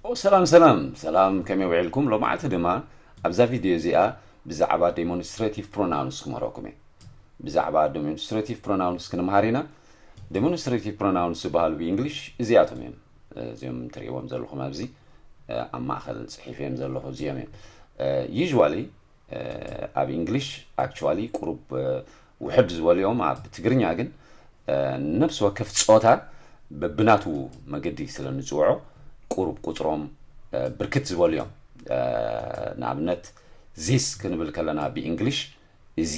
ኦ ሰላም ሰላም ሰላም ከመይ ውዒልኩም ሎማዓልቲ ድማ ኣብዛ ቪድዮ እዚኣ ብዛዕባ ዴሞንስትሬቲቭ ፕሮናውንስ ክምህረኩም እየ ብዛዕባ ዴሞንስትሬቲቭ ፕሮናውንስ ክንምሃር ኢና ዴሞንስትሬቲቭ ፕሮናውንስ ዝበሃሉ ብእንግሊሽ እዚኣቶም እዮም እዚኦም ትርእዎም ዘለኹም ኣብዚ ኣብ ማእኸል ፅሒፍ እዮም ዘለኹ እዚኦም እዮም ዩዥዋሊ ኣብ እንግሊሽ ኣክቹዋሊ ቁሩብ ውሕድ ዝበሉ እዮም ኣብ ትግርኛ ግን ነብሲ ወከፍ ጾታ በብናቱ መገዲ ስለ ንጽውዖ ቁሩብ ቁጽሮም ብርክት ዝበሉ እዮም ንኣብነት ዚስ ክንብል ከለና ብእንግሊሽ እዚ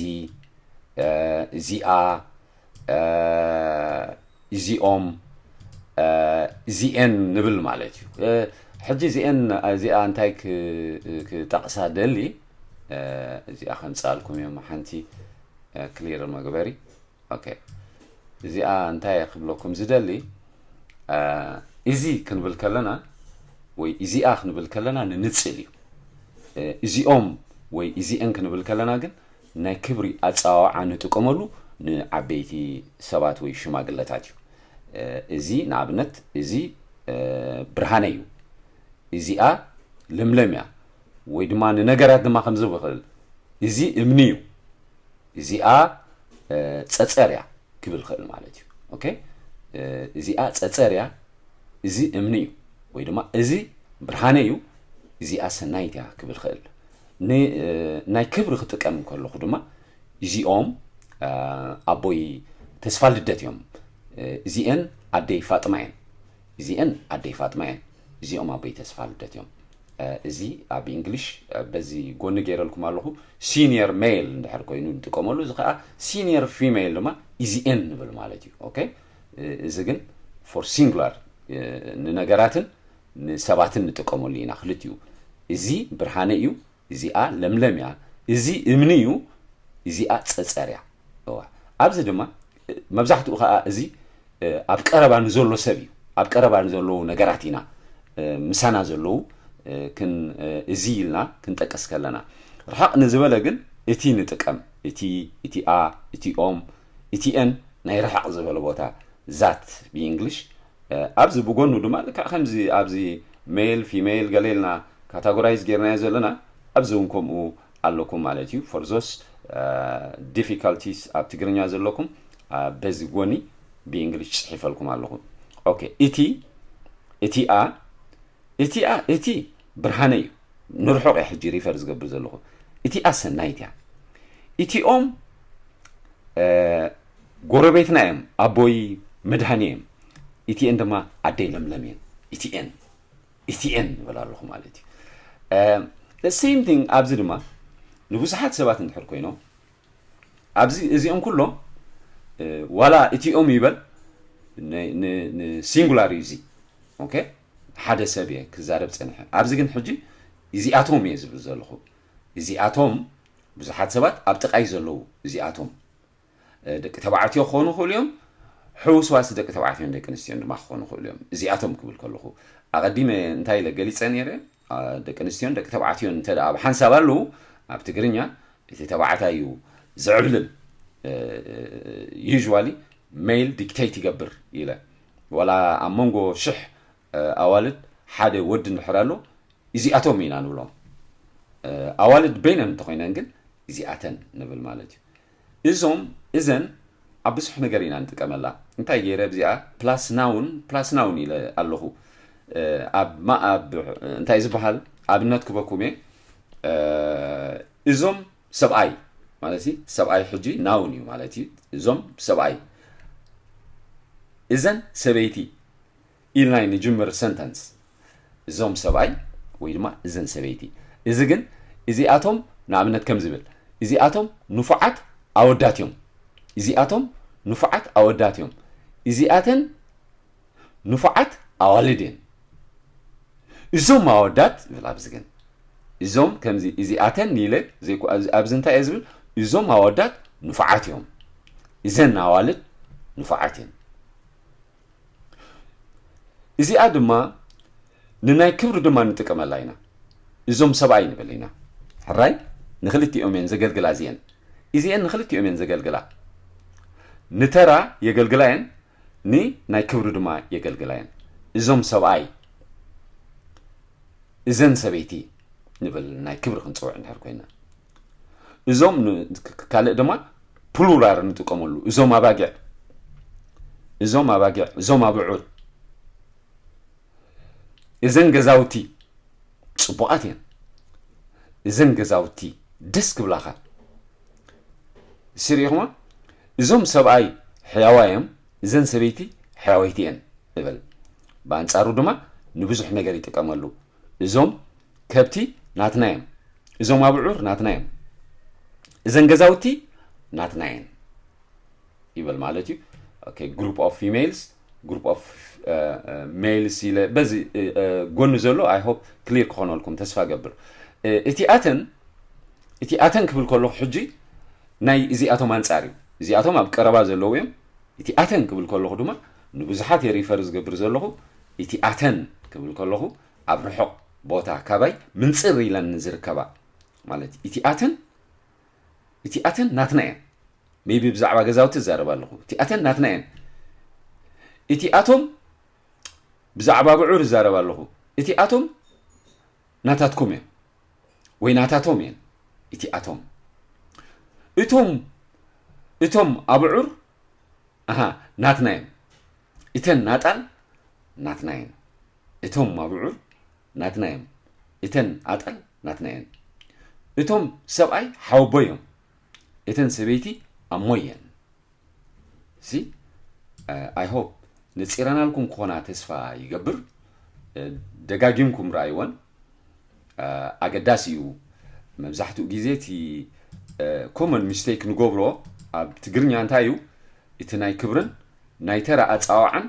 እዚኣ እዚኦም እዚኤን ንብል ማለት እዩ ሕጂ እዚኤን እዚኣ እንታይ ክጠቕሳ ደሊ እዚኣ ከምፅኣልኩም እዮም ሓንቲ ክሊር መግበሪ ኦኬ እዚኣ እንታይ ክብለኩም ዝደሊ እዚ ክንብል ከለና ወይ እዚኣ ክንብል ከለና ንንፅል እዩ እዚኦም ወይ እዚኤን ክንብል ከለና ግን ናይ ክብሪ ኣጸዋውዓ ንጥቀመሉ ንዓበይቲ ሰባት ወይ ሽማግለታት እዩ። እዚ ንኣብነት እዚ ብርሃነ እዩ፣ እዚኣ ለምለም እያ፣ ወይ ድማ ንነገራት ድማ ከምዚ ብክል እዚ እምኒ እዩ፣ እዚኣ ጸጸር እያ ክብል ክእል ማለት እዩ። ኦኬ እዚኣ ጸጸር እያ፣ እዚ እምኒ እዩ፣ ወይ ድማ እዚ ብርሃነ እዩ፣ እዚኣ ሰናይት እያ ክብል ክእል። ን ናይ ክብሪ ክጥቀም እንከለኹ ድማ እዚኦም ኣቦይ ተስፋልደት እዮም፣ እዚኤን ኣደይ ፋጥማ እየን፣ እዚኤን ኣደይ ፋጥማ እየን፣ እዚኦም ኣቦይ ተስፋልደት እዮም። እዚ ኣብ እንግሊሽ በዚ ጎኒ ገይረልኩም ኣለኹ ሲኒየር ሜል እንድሕር ኮይኑ ንጥቀመሉ፣ እዚ ከዓ ሲኒየር ፊሜል ድማ እዚኤን ንብል ማለት እዩ። ኦኬ እዚ ግን ፎር ሲንጉላር ንነገራትን ንሰባትን ንጥቀመሉ ኢና ክልቲኡ እዚ ብርሃነ እዩ እዚኣ ለምለም እያ እዚ እምኒ እዩ እዚኣ ፀፀር እያ እወ ኣብዚ ድማ መብዛሕትኡ ከዓ እዚ ኣብ ቀረባ ንዘሎ ሰብ እዩ ኣብ ቀረባ ንዘለዉ ነገራት ኢና ምሳና ዘለዉ ክን እዚ ኢልና ክንጠቅስ ከለና ርሓቕ ንዝበለ ግን እቲ ንጥቀም እቲ እቲኣ እቲኦም እቲኤን ናይ ርሓቕ ዝበለ ቦታ ዛት ብእንግሊሽ ኣብዚ ብጎኑ ድማ ልክዕ ከምዚ ኣብዚ ሜል ፊሜል ገለ ኢልና ካታጎራይዝ ጌርናዮ ዘለና ኣብዚ ውን ከምኡ ኣለኩም ማለት እዩ ፎር ዞስ ዲፊካልቲስ ኣብ ትግርኛ ዘለኩም በዚ ጎኒ ብእንግሊሽ ጽሒፈልኩም ኣለኹ ኦኬ እቲ እቲኣ እቲኣ እቲ ብርሃነ እዩ ንርሑቅ እየ ሕጂ ሪፈር ዝገብር ዘለኹ እቲኣ ሰናይት እያ እቲኦም ጎረቤትና እዮም ኣቦይ መድሃኒ እዮም እቲኤን ድማ ኣደይ ለምለም እየን እቲኤን እቲኤን ንበላ ኣለኹ ማለት እዩ ሴም ቲንግ ኣብዚ ድማ ንብዙሓት ሰባት እንድሕር ኮይኖም ኣብዚ እዚኦም ኩሎም ዋላ እቲኦም ይበል ንሲንጉላር እዩ እዚ ኦኬ ሓደ ሰብ እየ ክዛረብ ፀንሐ ኣብዚ ግን ሕጂ እዚኣቶም እየ ዝብል ዘለኹ እዚኣቶም ብዙሓት ሰባት ኣብ ጥቃይ ዘለዉ እዚኣቶም ደቂ ተባዕትዮ ክኾኑ ይኽእሉ እዮም ሕውስዋስ ደቂ ተባዕትዮን ደቂ ኣንስትዮን ድማ ክኾኑ ይኽእሉ እዮም እዚኣቶም ክብል ከለኹ ኣቐዲመ እንታይ ኢለ ገሊፀ ነይረ ደቂ ኣንስትዮን ደቂ ተባዕትዮን እንተ ብሓንሳብ ኣለዉ ኣብ ትግርኛ እቲ ተባዕታይ እዩ ዝዕብልል ዩዥዋሊ ሜል ዲክተይት ይገብር ኢለ ዋላ ኣብ መንጎ ሽሕ ኣዋልድ ሓደ ወዲ እንድሕር ኣሎ እዚኣቶም ኢና ንብሎም ኣዋልድ በይነን እንተኮይነን ግን እዚኣተን ንብል ማለት እዩ እዞም እዘን ኣብ ብዙሕ ነገር ኢና ንጥቀመላ እንታይ ገይረ ብዚኣ ፕላስ ናውን ፕላስ ናውን ኢለ ኣለኹ ኣብ ማኣብ እንታይ ዝበሃል ኣብነት ክበኩም እየ እዞም ሰብኣይ ማለት ሰብኣይ ሕጂ ናውን እዩ ማለት እዩ እዞም ሰብኣይ እዘን ሰበይቲ ኢልና ንጅምር ሰንተንስ። እዞም ሰብኣይ ወይ ድማ እዘን ሰበይቲ። እዚ ግን እዚኣቶም ንኣብነት ከምዚ ብል፣ እዚኣቶም ንፉዓት ኣወዳት እዮም። እዚኣቶም ንፉዓት ኣወዳት እዮም። እዚኣተን ንፉዓት ኣዋልድ እየን። እዞም ኣወዳት ይብል ኣብዚ ግን እዞም ከምዚ እዚኣተን ኢለ ኣብዚ እንታይ እየ ዝብል እዞም ኣወዳት ንፉዓት እዮም እዘን ኣዋልድ ንፉዓት እየን እዚኣ ድማ ንናይ ክብሪ ድማ ንጥቀመላ ኢና እዞም ሰብኣይ ንብል ኢና ሕራይ ንክልቲኦም እየን ዘገልግላ እዚአን እዚአን ንክልቲኦም እየን ዘገልግላ ንተራ የገልግላ እየን ንናይ ክብሪ ድማ የገልግላ እየን እዞም ሰብኣይ እዘን ሰበይቲ ንብል ናይ ክብሪ ክንፅውዕ እንድሕር ኮይና እዞም ካልእ ድማ ፕሉራር ንጥቀመሉ እዞም ኣባጊዕ እዞም ኣባጊዕ እዞም ኣብዑር እዘን ገዛውቲ ፅቡቓት እየን እዘን ገዛውቲ ደስ ክብላኻ ስሪኢኹማ እዞም ሰብኣይ ሕያዋይ እዮም እዘን ሰበይቲ ሕያወይቲ እየን ንበል ብኣንፃሩ ድማ ንብዙሕ ነገር ይጥቀመሉ እዞም ከብቲ ናትና እዮም፣ እዞም ኣብዑር ናትና እዮም፣ እዘን ገዛውቲ ናትና እየን ይበል ማለት እዩ። ኦኬ ግሩፕ ኦፍ ፊሜልስ ግሩፕ ኦፍ ሜልስ ኢለ በዚ ጎኒ ዘሎ ኣይ ሆፕ ክሊር ክኾነልኩም ተስፋ ገብር እቲ ኣተን እቲ ኣተን ክብል ከለኹ ሕጂ ናይ እዚኣቶም ኣንጻር እዩ እዚኣቶም ኣብ ቀረባ ዘለዉ እዮም እቲ ኣተን ክብል ከለኹ ድማ ንብዙሓት የሪፈር ዝገብር ዘለኹ እቲ ኣተን ክብል ከለኹ ኣብ ርሑቕ ቦታ ካባይ ምንጽር ኢለን ንዝርከባ ማለት እቲኣተን እቲኣተን ናትና እየን ሜቢ ብዛዕባ ገዛውቲ እዛረብ ኣለኹ እቲኣተን ናትና እየን እቲኣቶም ብዛዕባ ብዑር እዛረብ ኣለኹ እቲኣቶም ናታትኩም እዮም ወይ ናታቶም እየን እቲኣቶም እቶም እቶም ኣብዑር ኣሃ ናትና እዮም እተን ናጣል ናትና እየን እቶም ኣብዑር ናትና እዮም እተን ኣጣል ናትና እየን እቶም ሰብኣይ ሓወቦ እዮም እተን ሰበይቲ ኣሞ እየን እዚ ኣይሆፕ ንፂረናልኩም ክኾና ተስፋ ይገብር ደጋጊምኩም ረኣይወን ኣገዳሲ እዩ መብዛሕትኡ ግዜ እቲ ኮመን ሚስቴክ ንገብሮ ኣብ ትግርኛ እንታይ እዩ እቲ ናይ ክብርን ናይ ተራ ኣፃዋዓን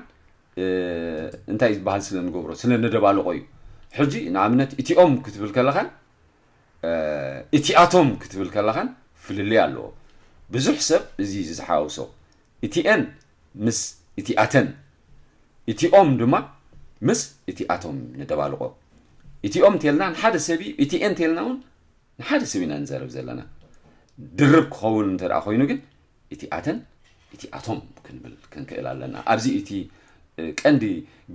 እንታይ ዝበሃል ስለ ንገብሮ ስለ ነደባልቆ እዩ ሕጂ ንኣብነት እቲኦም ክትብል ከለኻን እቲኣቶም ክትብል ከለኻን ፍልልይ ኣለዎ ብዙሕ ሰብ እዚ እዩ ዝሓውሶ እቲኤን ምስ እቲኣተን እቲኦም ድማ ምስ እቲኣቶም ንደባልቆ እቲኦም እንተልና ንሓደ ሰብ እዩ እቲኤን እንተልና እውን ንሓደ ሰብ ኢና ንዘረብ ዘለና ድርብ ክኸውን እንተ ኮይኑ ግን እቲ ኣተን እቲ ኣቶም ክንብል ክንክእል ኣለና ኣብዚ እቲ ቀንዲ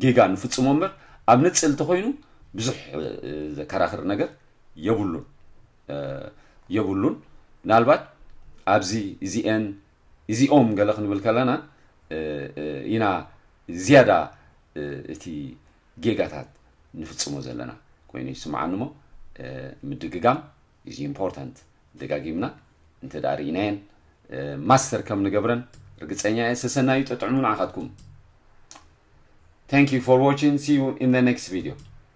ጌጋ ንፍጽሞ እምበር ኣብ ንጽል እንተኮይኑ ብዙሕ ዘከራኽር ነገር የብሉን የብሉን ምናልባት ኣብዚ እዚኤን እዚኦም ገለ ክንብል ከለና ኢና ዝያዳ እቲ ጌጋታት ንፍጽሞ ዘለና ኮይኑ ይስምዓኒ እሞ ምድግጋም ኢዝ ኢምፖርታንት ደጋጊምና እንተ ርኢናየን ማስተር ከም ንገብረን ርግጸኛ እየ ሰሰናዩ ጠጥዕሙ ንዓኻትኩም ታንክ ዩ ፎር ዋቺንግ ሲ ዩ ኢን ኔክስት ቪድዮ